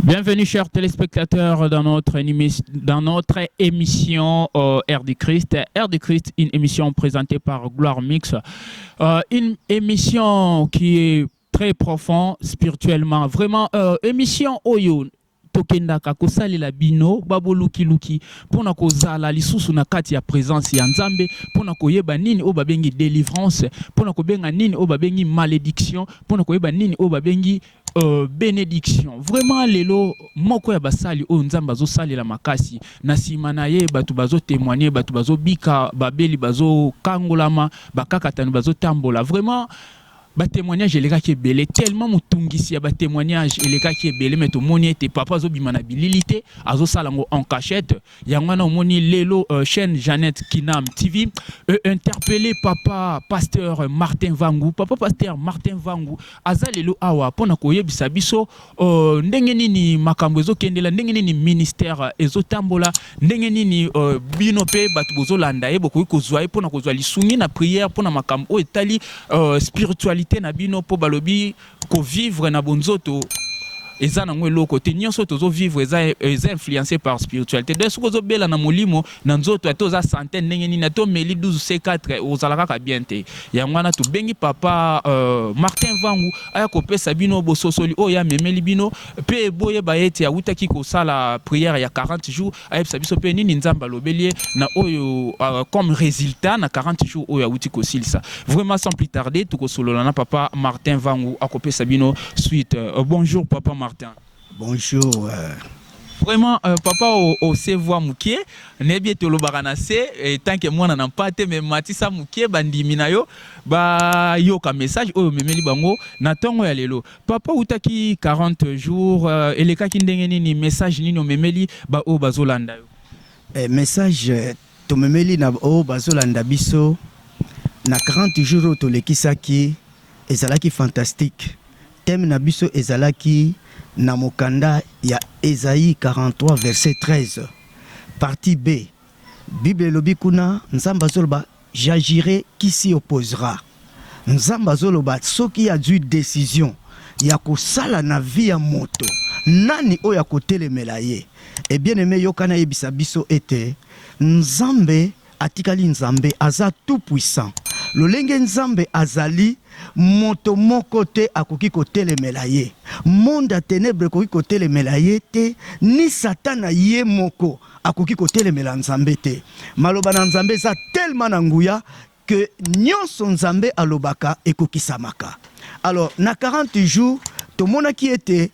Bienvenue, chers téléspectateurs, dans notre, dans notre émission euh, Air du Christ. Air du Christ, une émission présentée par Gloire Mix. Euh, une émission qui est très profonde spirituellement. Vraiment, euh, émission Oyo. tokendaka kosalela bino babolukiluki mpo na kozala lisusu na kati ya presence ya nzambe mpo na koyeba nini oyo babengi délivrance mpo na kobenga nini oyo babengi malédiction mpo na koyeba nini oyo babengi Euh, benediction vraiment lelo moko ya basali oyo nzambe azosalela makasi na nsima na ye bato bazotemoigne bato bazobika babeli bazokangolama bakakatani bazotambola vraiment batémoignage elekaki ebele tellement motungisi ya batémoignage elekaki ebele me tomoni ete papa azobima na bilili te azosala yango en cachette yango wana omoni lelo euh, chaîne Jeannette Kinam TV euh, interpellé papa pasteur Martin Vangu papa pasteur Martin Vangu aza lelo awa mpo na koyebisa biso euh, ndenge nini makambo ezokendela ndenge nini ministère ezotambola ndenge nini euh, bino mpe bato bozolanda ye bokoki kozwa ye mpo na kozwa lisungi na prière mpo na makambo oyo etali euh, spiritualité na bino mpo balobi Ko vivre na bonzoto eza nango eloko te nyonso tozo vivre eza eza influencer par spiritualité donc soki ozobela na molimo na nzoto ata oza sante ndenge nini ata omeli 12 c4 ozala kaka bien te yango wana tobengi papa euh, martin vangu aya kopesa bino bososoli oyo amemeli bino mpe boyeba ete awutaki kosala prière ya 40 jours ayebisa biso mpe nini nzambe alobeli ye na oyo uh, comme résultat na 40 jours oyo awuti kosilisa vraiment sans plus tarder tokosolola na papa martin vangu akopesa bino suite uh, bonjour papa martin bonjour uh... vraiment euh, papa ose voix moke nayebi ete olobaka na se etanke mwana na mpa te me matisa moke bandimi na yo bayoka message oyo omemeli bango na ntongo ya lelo papa outaki 40 jours euh, elekaki ndenge nini message nini omemeli baoyo bazolanda yo eh, message euh, tomemeli na oyo bazolanda biso na 40 jours oyo tolekisaki ezalaki fantastique teme na biso ezalaki na mokanda ya esaïe 43 verset 13 partie b bible elobi kuna nzambe azoloba J'agirai qui s'y opposera nzambe azoloba soki azui decision ya kosala na vie ya moto nani oyo akotelemela ye et bien aime yoka nayebisa biso ete nzambe atikali nzambe aza tout puissant lolenge nzambe azali moto moko te akoki kotelemela ye monde ya tenebre ekoki kotelemela ye te ni satana ye moko akoki kotelemela Nzambe te. Maloba na Nzambe eza tellement na nguya que nionso Nzambe alobaka ekokisamaka. Alors na 40 jours tomonaki ete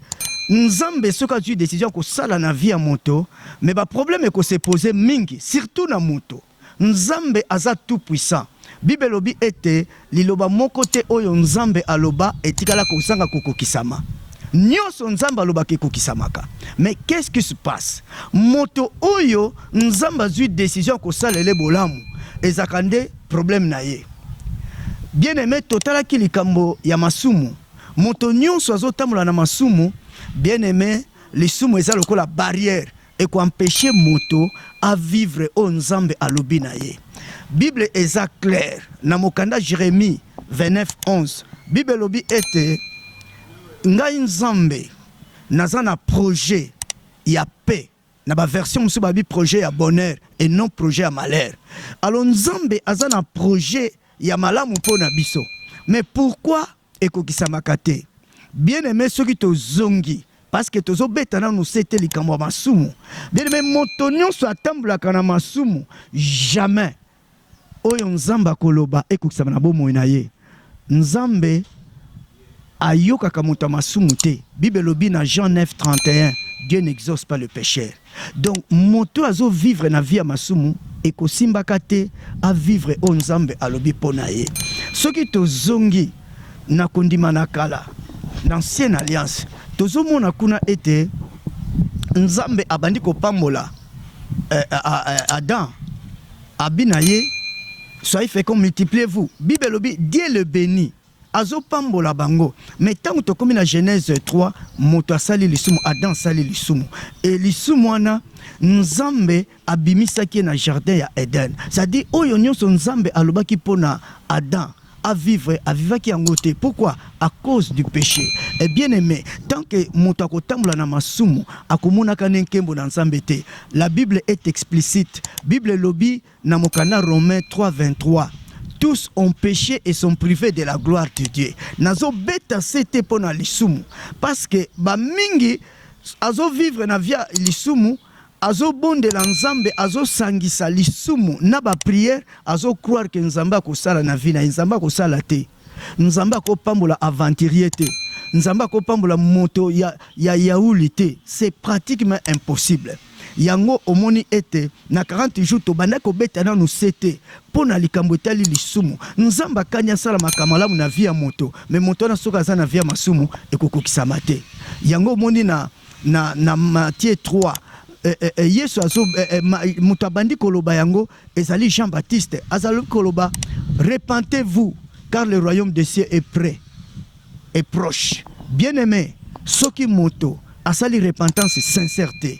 Nzambe soki azwi decision ya kosala na vie ya moto, mais ba problème ekose pose mingi surtout na moto Nzambe aza tout puissant. Bible elobi ete liloba moko te oyo Nzambe aloba etikala kozanga kokokisama. Nionso Nzambe alobaka ekokisamaka. Mais qu'est ce qui se passe? Moto oyo Nzambe azui decision ya kosalele bolamu ezaka nde problème na ye. Bien aime totalaki likambo ya masumu. Moto nionso azotambola na masumu, bien aime lisumu eza lokola barrière Eko empecher moto a vivre oyo Nzambe alobi na ye. Bible eza claire na mokanda Jeremie 29, 11. Bible elobi ete ngai Nzambe naza na projet ya paix na ba version mosusu babi projet ya bonheur et non projet ya malheur. Alors Nzambe aza na projet ya malamu mpo na biso mais pourquoi ekokisamaka te bien aime soki tozongi parceke tozobeta nanu se te likambo ya masumu bien aime moto nyonso atambolaka na masumu jamais oyo nzambe akoloba ekokisama na bomoi na ye nzambe ayokaka moto ya masumu te bible elobi na jean 9 31 dieu n'exauce pas le pecheur Donc moto oyo azo vivre na vie ya masumu ekosimbaka te a vivre oyo Nzambe alobi mpo na ye. Soki tozongi na kondima na kala, na ancienne alliance, tozomona kuna ete Nzambe abandi kopambola eh, eh, eh, Adam abi na ye soyez fécond multipliez-vous. Bible elobi Dieu le bénit Azo pambola bango mais tango tokomi na Genèse 3 moto asali lisumu Adam asali lisumu et lisumu wana Nzambe abimisaki ye na jardin ya Eden ça dit oyo nionso Nzambe alobaki pona Adam a vivre a vivaki yango te pourquoi à cause du péché et bien aimé tant que moto akotambola na masumu akomonaka ne nkembo na Nzambe te la Bible est explicite Bible elobi Na mokanda Romains 3, 23, Tous ont peche et sont prives de la gloire de Dieu. Nazo beta sete mpo na lisumu parce que ba mingi azo vivre na via lisumu azobondela nzambe azosangisa lisumu na bapriere azocroire ke nzambe akosala na vi na ye nzambe akosala te Nzambe ako pambola aventurier te. Nzambe ako pambola moto ya, ya yauli te. C'est pratiquement impossible. Yango omoni ete na 40 jours tobandaki kobeta nanu sete mpo na likambo etali lisumu. Nzambe akani asala makambo malamu na vie ya moto, me moto wana soki aza na vie ya masumu ekokokisama te. Yango omoni na, na, na Matthieu 3 eh, eh, eh, Yesu azo eh, eh, ma, moto abandi koloba yango ezali Jean Baptiste azali koloba repentez-vous car le royaume des cieux est près est proche bien aimé soki moto asali repentance sincère te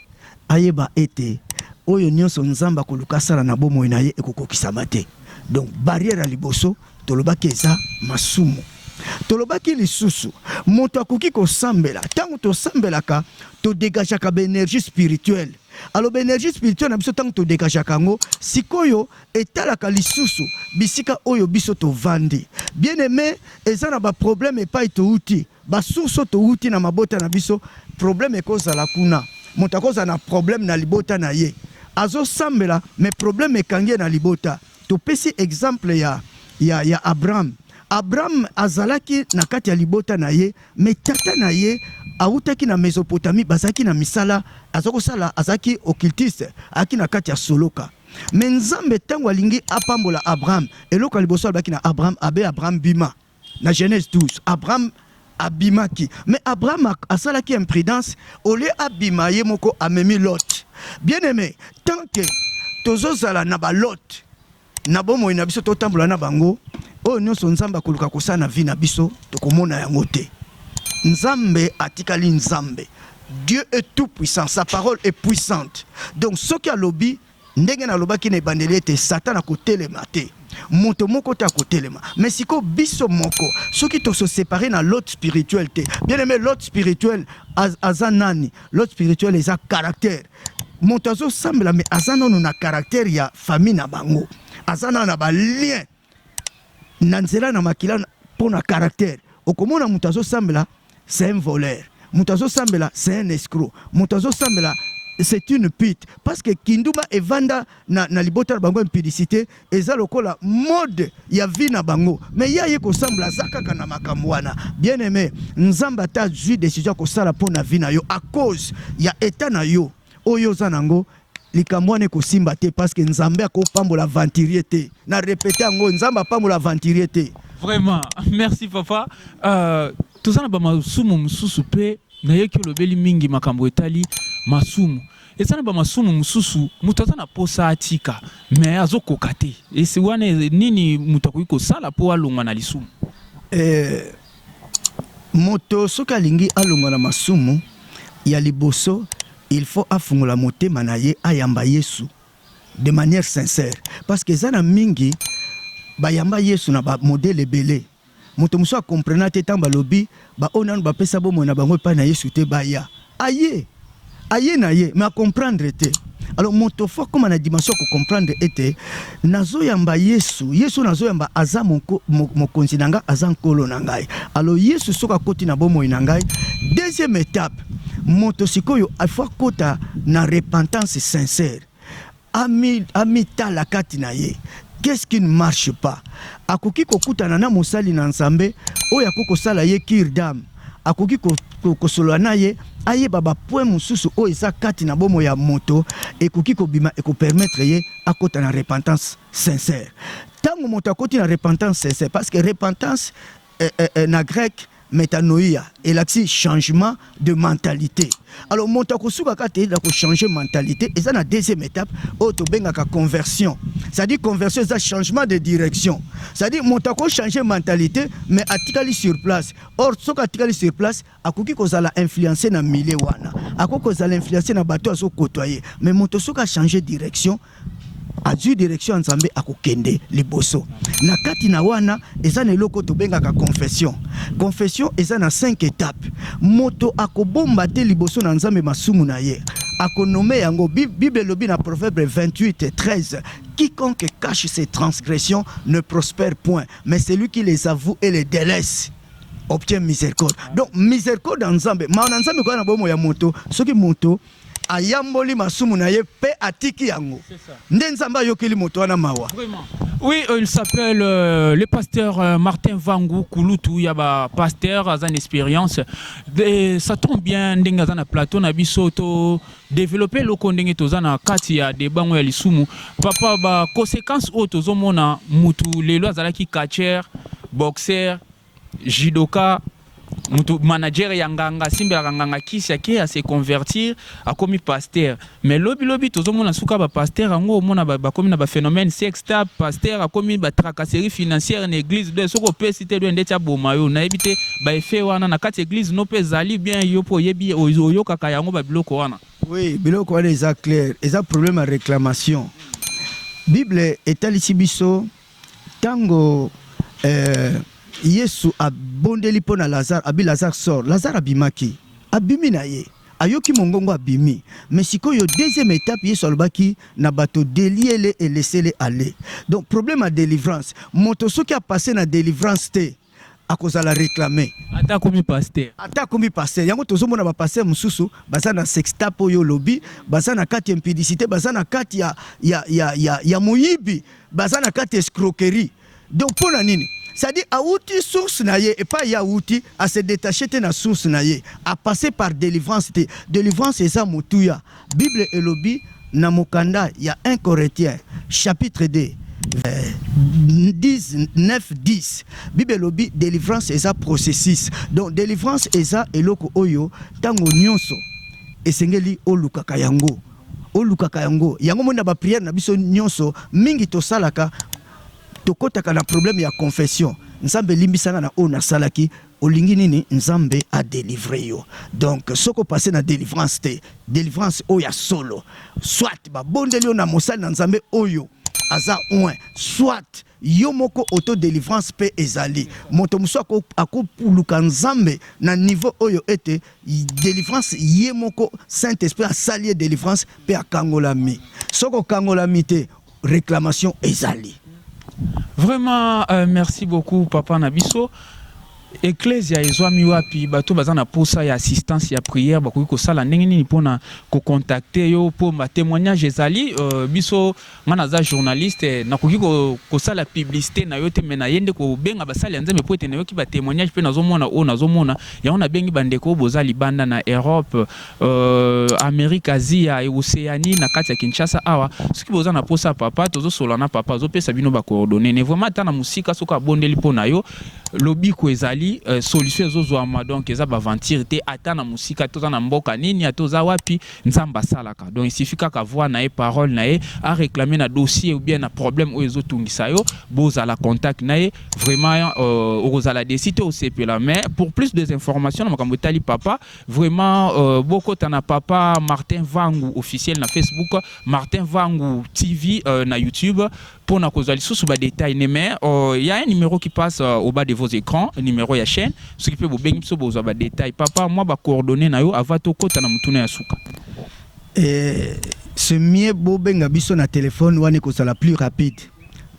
ayeba ete oyo nyonso nzambe akoluka asala na bomoi na ye ekokokisama te donc barrière ya liboso tolobaki eza masumu tolobaki lisusu moto akoki kosambela ntango tosambelaka todegageaka baenergie spirituelle aloba energie spirituelle na biso ntango todekashaka yango sikoyo etalaka lisusu bisika oyo biso tovandi bien aime eza na baproblème epai touti basource oyo touti na mabota na biso problème ekozala kuna moto akozala na problème na libota na ye azosambela mais problème ekangi ye na libota Topesi exemple ya, ya, ya Abraham. Abraham azalaki na kati ya libota na ye, me tata na ye awutaki na Mesopotamie, bazalaki na misala, aza kosala, azalaki occultiste, aki na kati ya soloka. Me Nzambe ntango alingi apambola Abraham, eloko ya liboso alobaki na Abraham, abe Abraham bima. Na Genèse 12, Abraham abimaki mais Abraham asalaki imprudence au lieu abima ye moko amemi Lot. Bien aimé, tant que tozozala na ba Lot na bomoi na biso totambola na bango, oyo nyonso Nzambe akoluka kosala na vie na biso tokomona yango te. Nzambe atikali Nzambe. Dieu est tout puissant, sa parole est puissante. Donc soki alobi Ndenge nalobaki na ebandeli ete Satana akotelema te, moto moko te akotelema. Me siko biso moko soki toso separe na lot spirituel te, bien aime lot spirituel az, aza nani? Lot spirituel eza caractère. Moto azosambela me aza nano na caractère ya famille na bango, aza nano na balien na nzela na makila mpo na caractère okomona moto azosambela c'est un voleur moto azosambela c'est un escroc moto azosambela c'est une pute parce que kindumba evanda na, na libota na bango impudicité eza lokola mode ya vie na bango mais ye aye kosambla aza kaka na makambo wana bien aimé nzambe ata azwi décision ya kosala mpo na vie na yo à cause ya état na yo oyo oza nango likambo wana ekosimba te parce que nzambe akopambola aventurier te na repete yango nzambe apambola aventurier te vraiment merci papa uh, toza na bamasumu mosusu mpe nayoki olobeli mingi makambo etali masumu eza na bamasumu mosusu moto aza na posa atika me azokoka te esi wana nini moto akoki kosala mpo alongwa na lisumu eh, Moto soki alingi alongwa na masumu ya liboso il faut afungola motema na ye ayamba yesu de manière sincère parce que eza na mingi bayamba yesu na ba modèle ebele moto mosusu a comprena te ntango balobi baoyo nanu bapesa bomoi na bango epai na yesu te baya Aye aye na ye mais a comprendre te alors moto fo akoma na dimension ya kocomprendre ete nazoyamba yesu yesu nazoyamba aza moko, mokonzi na ngai aza nkolo na ngai alors yesu soki akoti na bomoi na ngai deuxième étape moto sikoyo afo akota na repentance sincère Ami, amitala kati na ye. Qu'est-ce qui ne marche pas? Akoki kokutana na mosali na Nzambe oyo akoki kosala ye cure d'âme. Akoki ko, ko, kosolola na ye ayeba ba point mosusu oyo eza kati na bomo ya moto ekoki kobima ekopermettre ye akota na repentance sincère. Ntango moto akoti na repentance sincère, parce que repentance eh, eh, eh, na grec metanoia elakisi changement de mentalité alors moto akosukaka te na kochanger mentalité eza na deuxième étape oyo tobengaka conversion c'est-à-dire conversion eza changement de direction c'est-à-dire moto akochanger mentalité mais atikali sur place or soki atikali sur place akoki kozala influence na milieu wana akoki kozala influence na bato azokotwa ye me moto soki achange direction azwi direction ya nzambe akokende liboso na kati na wana eza na eloko tobengaka confession confession eza na 5 étape moto akobomba te liboso na nzambe masumu na ye akonome yango bible elobi na proverbe 28 13 quiconque cache ses transgressions ne prospère point mais celui qui les avoue et les délaisse obtient miséricorde donc miséricorde ya nzambe mawa na nzambe ekoya na bomo ya moto soki moto ayamboli masumu na ye mpe atiki yango nde nzambe ayokeli moto wana mawa Oui, euh, il s'appelle euh, le pasteur euh, Martin Vangou Kulutu Yaba, pasteur Azan Expérience. Et ça tombe bien, Ndenga Azan plateau, Nabisoto, developpe eloko ndenge toza na kati ya deba ngo ya lisumu papa ba conséquences oyo tozomona mutu lelo azalaki catcheur boxeur judoka mutu manager ya nganga asimbelaka nganga kisi ake ase convertir akomi pasteur mais lobi lobi tozomona suka ba pasteur yango omona bakomi na ba phénomène sexe ta pasteur akomi ba tracasserie financière na église donc soki opesi te donc ndeti aboma yo nayebi te ba effet wana na kati église no mpe ezali bien yo mpe oyebi oyokaka yango ba biloko wana oui biloko wana eza clair eza problème ya réclamation bible etalisi biso ntango euh, yesu abondeli mpo na lazare abi lazare sort lazare abimaki abimi na ye Ayoki mongongo abimi. Mais sikoyo deuxième etape yesu alobaki na bato deliez le et laissez le aller donc problème ya delivrance moto soki a passe na delivrance te akozala reclame. Ata akomi pasteur. Ata akomi pasteur yango tozo mona ba pasteur mususu baza na sextape oyo olobi baza na kati ya impudicite baza na kati ya ya ya ya moyibi baza na kati ya escroquerie. Donc mpo na nini? C'est à dire awuti source na ye epai ye awuti a se detacher te na source na ye a passer par delivrance te. Delivrance eza motuya. Bible elobi na mokanda ya 1 Corinthiens chapitre 2 vers 10, 9, 10 bible elobi delivrance eza processus donc delivrance eza eloko oyo ntango nyonso esengeli olukaka yango olukaka yango yango moni na bapriere na biso nyonso mingi tosalaka tokotaka na problème ya confession nzambe limbisa nga na oyo nasalaki olingi nini nzambe a delivre yo donc soko passe na delivrance te delivrance oyo ya solo soit babondeli yo na mosali na nzambe oyo aza oin soit yo moko auto delivrance mpe ezali moto mosusu akoluka nzambe na niveau oyo ete delivrance ye moko saint esprit asali ye delivrance mpe akangolami soki okangolami te reclamation ezali vraiment euh, merci beaucoup papa na biso eklesia ezwami wapi bato baza na posa ya assistance ya prière bakoki kosala ndenge nini mpona kocontacte yo mpo batémoignage ezali euh, biso ngai naza journaliste nakoki kosala publicité na yo te mai naye nde kobenga basali ya nzambe mpo ete nayoki batémoignage mpe nazomona oyo nazomona yango nabengi bandeko oyo boza libanda na europe Euh, Amérique, Asie, et Océanie, na kati ya Kinshasa awa soki boza na posa papa tozo sola na papa zo pesa bino ba coordonnées ne vraiment ata na musika soki abondeli mpo na yo lobiko ezali euh, solution ezozwama donc eza baventure te ata na mosika toza na mboka nini ata oza wapi nzambe asalaka donc esifi kaka voi na ye parole na ye areklame na dossier ou bien na problème oyo ezotungisa yo bozala contact na ye vraiment euh, okozala desi te osepela mais pour plus des informations na makambo etali papa Vraiment, euh, bokota na papa Martin Vangu officiel na Facebook, Martin Vangu TV euh, na YouTube pour na kozwa lisusu ba détails ne mais il euh, y a un numéro qui passe euh, au bas de vos écrans, numéro ya chaîne, ce qui peut vous bengi biso bozwa ba détails. Papa, moi ba coordonnées na yo avant to kota na mutuna ya suka. Eh, ce mieux bo benga biso na téléphone wana kozala plus rapide.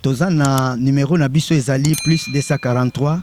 Toza na numéro na biso ezali plus 243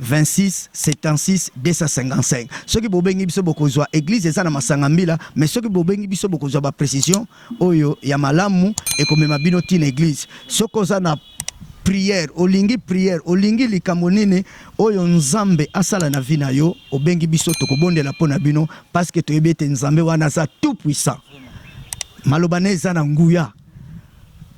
26 76 255 soki bobengi biso bokozwa eglise eza na masanga mbila mais soki bobengi biso bokozwa ba precision oyo ya malamu ekomema bino ti na eglise soki oza na prière olingi prière olingi likambo nini oyo nzambe asala na vie na yo obengi biso tokobondela mpo na bino parce que toyebi ete nzambe wana aza tout puissant maloba na eza na nguya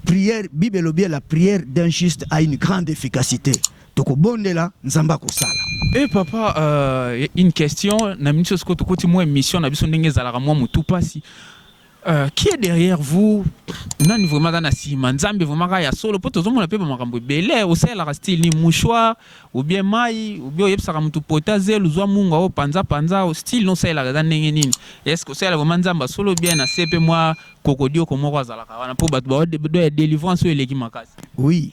prière bible elobi la prière d'un juste a une grande efficacité Toko bondela nzambe akosala. Eh papa euh, une question na minute soko tokoti mwa émission na biso ndenge ezalaka mwa mutu pasi euh, qui est derrière vous nani vraiment aza na nsima nzambe vraiment kaka ya solo mpo tozomona mpe bamakambo ebele osalelaka style ni mouchoir ou bien mai ou bien oyebisaka motu pota zelu zwa mungu ao panza panza style no osalelaka eza ndenge nini est-ce que osalela vraiment nzambe ya solo bien na se mpe mwa kokodioko moko azalaka wana mpo bato baoya délivrance oyo eleki makasi oui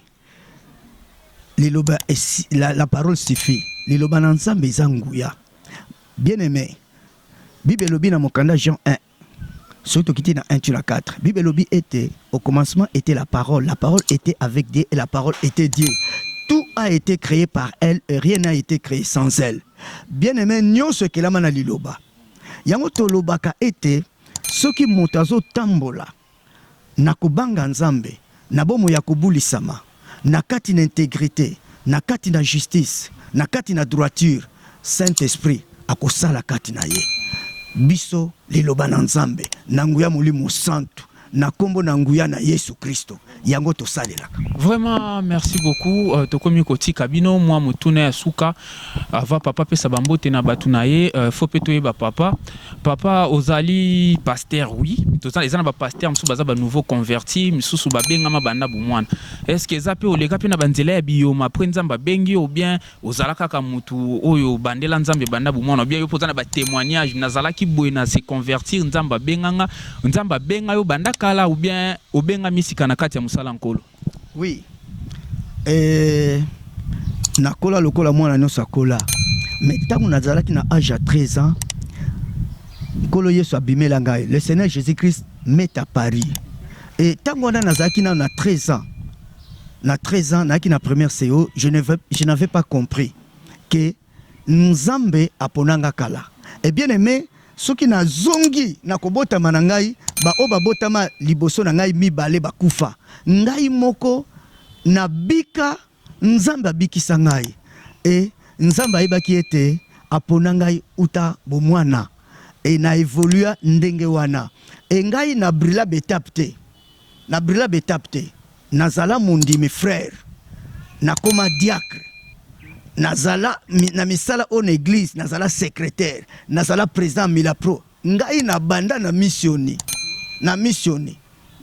liloba esi, la, la parole suffit liloba na nzambe eza nguya bien aimé bible elobi na mokanda jean 1 soki tokiti na 1 tu na 4 bible elobi ete au commencement était la parole la parole était avec dieu et la parole était dieu tout a été créé par elle et rien n'a été créé sans elle bien aimé nyonso ekelama na liloba yango tolobaka ete soki moto azotambola na kobanga Nzambe, na bomoi ya kobulisama, na kati na integrite, na kati na justice, na kati na droiture, Saint Esprit akosala kati na ye biso liloba na Nzambe na nguya Molimo Santu na kombo na nguya na Yesu Kristo. yango tosalelaka. Vraiment merci beaucoup uh, tokomi kotika bino mwa motuna ya suka ava papa apesa bambote na bato na ye uh, fo mpe toyeba papa papa ozali pasteur oui toza eza na bapasteur mosusu baza banouveau converti misusu babengama banda bomwana estce eza mpe oleka mpe na banzela ya biyoma apres nzambe abengi ou bien ozala kaka mutu oyo bandela nzambe banda bomwana bia yo mpo oza na batémoignage nazalaki boye na se convertir nzambe abenganga nzambe abenga yo banda kala ou bien obenga misika na kati ya mosala nkolo oui eh, nakola lokola mwana nyonso akola mais ntango nazalaki na age ya 13 ans nkolo yesu abimela ngai le seigneur jésus christ met à paris e ntango wana nazalaki nano na 13 ans Na 13 ans nayaki na première CO, je ne vais, je n'avais pas compris que Nzambe apona nga kala. Et bien aime, soki na zongi na kobotama na ngai, ba oyo babotama liboso na ngai mibale bakufa, ngai moko na bika, Nzambe abikisa ngai. Et Nzambe ayebaki ete apona ngai uta bomwana. Et na evolua ndenge wana. Et ngai na brilla b'etapes te. Na brila b'etapes te, nazala mondimi frère, nakoma diacre, nazala na misala oyo na eglise, nazala secretaire, nazala president ya Milapro. Ngai nabanda na misioni, na misioni,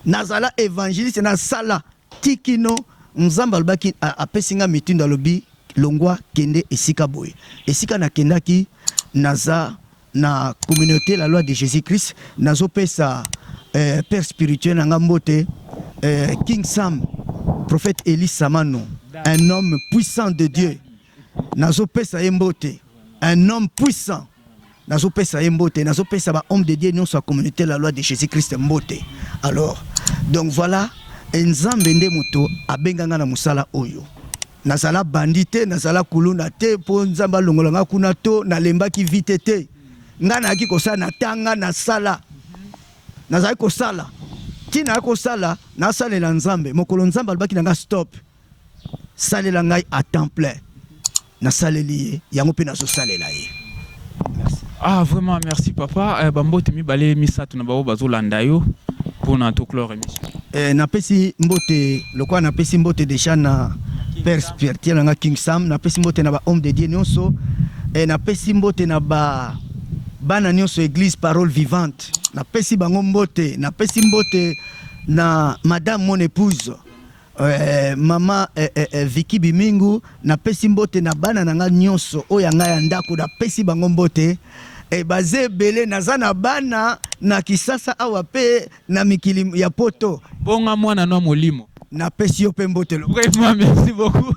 nazala evangeliste, nasala ti kino Nzambe alobaki, apesi ngai mitindo, alobi longwa kende esika boye. Esika nakendaki naza Na communaute la loi de Jesus Christ nazo pesa eh, père spirituel na nga mbote eh, King Sam prophète Elie Samano un homme puissant de Dieu nazo pesa ye mbote un homme puissant nazopesa ye mbote nazopesa ba homme de dieu nyonso ya communauté la loi de jésus christ mbote alors donc voilà nzambe nde moto abenga ngai na mosala oyo Nazala bandi te, nazala kuluna te mpo Nzambe alongola nga kuna to nalembaki vite te. Nga nayaki kosala na tanga na sala. Nazali kosala. Tina ya kosala nasalela Nzambe. Mokolo Nzambe alobaki na nga stop. Salela ngai à temps plein. Nasaleli ye yango mpe nazosalela ye. Ah vraiment merci papa eh, bambote mibale misato na bango bazolanda yo mpona toclore émission eh, napesi mbote lokola napesi mbote deja na père spirituel nanga king sam napesi mbote na bahomme de dieu nyonso eh, napesi mbote na ba bana nyonso église parole vivante napesi bango mbote napesi mbote na madame mon épouse Euh, mama eh, eh, eh, Vicky Bimingu napesi mbote na bana na nga nyonso oyo yanga ya ndako napesi bango mbote eh, baza ebele naza na bana na Kisasa awa mpe na mikili ya poto bonga mwana na molimo napesi yo mpe mbote lo- Vraiment, merci beaucoup.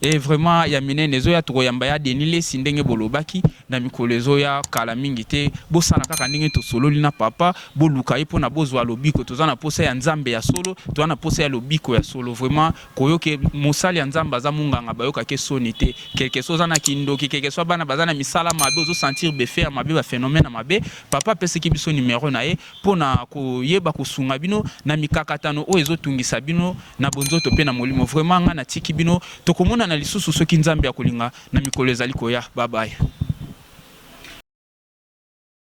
e vraiment ya minene ezoya tokoyamba ya Denis Lesi ndenge bolobaki na mikolo ezoya kala mingi te bosala kaka ndenge tosololi na papa boluka ye mpona bozwa lobiko toza na posa ya nzambe ya solo toza na posa ya lobiko ya solo vraiment koyoke mosali ya nzambe aza monganga bayokake soni te quelque soit oza na kindoki quelque soit bana baza na misala mabe ozosentir befe ya mabe baphénomène ya mabe papa apesaki biso numero na ye mpo na koyeba kosunga bino na mikakatano oyo ezotungisa bino na bonzoto mpe na molimo. Vraiment nga na tiki bino tokomonana lisusu soki nzambe akolinga na mikolo ezali koya bye bye.